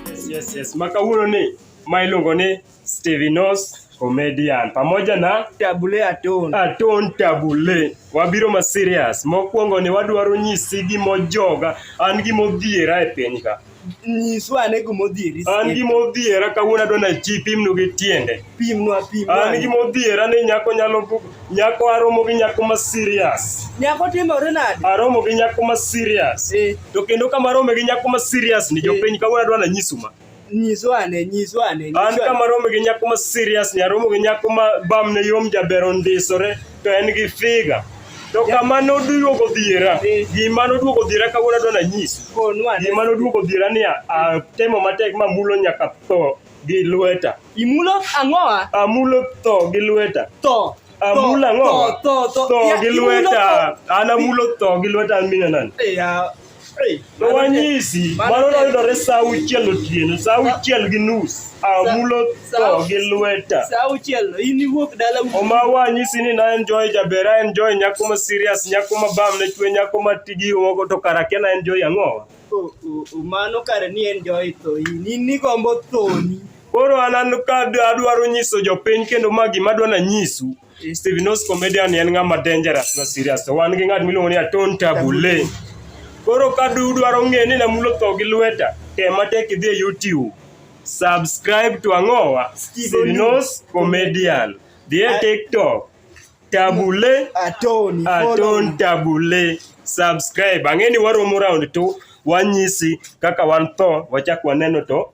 Yes, yes, yes. Maka huyo ni mailongo ni Stevenos comedian pamoja na tabule aton aton tabule wabiro ma serious mokwongo ni wadwaro nyisi gimojoga an gimodhiera e piny ka nyiswa ane gimodhieri an gimodhiera kawuono adwa na ji pimnu gi tiende pimnwa pimnwa an gimodhiera ni nyako nyalo Nyako aromo gi nyako ma serious. Nyako timore nade? Aromo gi nyako ma serious. Eh. To kendo kama arome gi nyako ma serious ni eh. jopiny kawuono adwa nanyisu ma. Nyiso ane, nyiso ane. An kama arome gi nyako ma serious ni aromo gi nyako ma bamne yom jaber ondisore to en gi figa. To kama noduogo dhiera, eh. gima noduogo dhiera kawuono adwa nanyisu. Gima noduogo dhiera ni atemo matek mamulo nyaka tho. gi lweta. Imulo ang'o? Amulo tho gi lweta. Tho. Amulo ang'o? Tho, tho, tho. gi lweta. An amulo tho gi lweta an mine nani? No wanyisi, mano noyudore sa auchiel otieno, sa auchiel gi nus. Amulo tho gi lweta. Sa auchiel, in iwuok dala wuok. Oma wanyisi ni na enjoy jaber, a enjoy nyako ma serious, nyako ma bam ne chwe, nyako ma tigi ogo to kara kia na enjoy ang'owa. Mano kare ni en joy tho in in nigombo thoni. Koro an an ka adwaro nyiso jopiny kendo ma gima adwa nanyisu Steven Os comedian en ng'ama dangerous na serious to wan gi ng'at miluongo ni Aton Tabule. Koro ka dudwaro ng'e ni namulo tho gi lweta tem matek idhi e YouTube subscribe to ang'owa Steven Os comedian. Dhi e TikTok Tabule Atoni Aton Tabule subscribe. Ang'eni waromo round tu wanyisi kaka wan tho wachak waneno to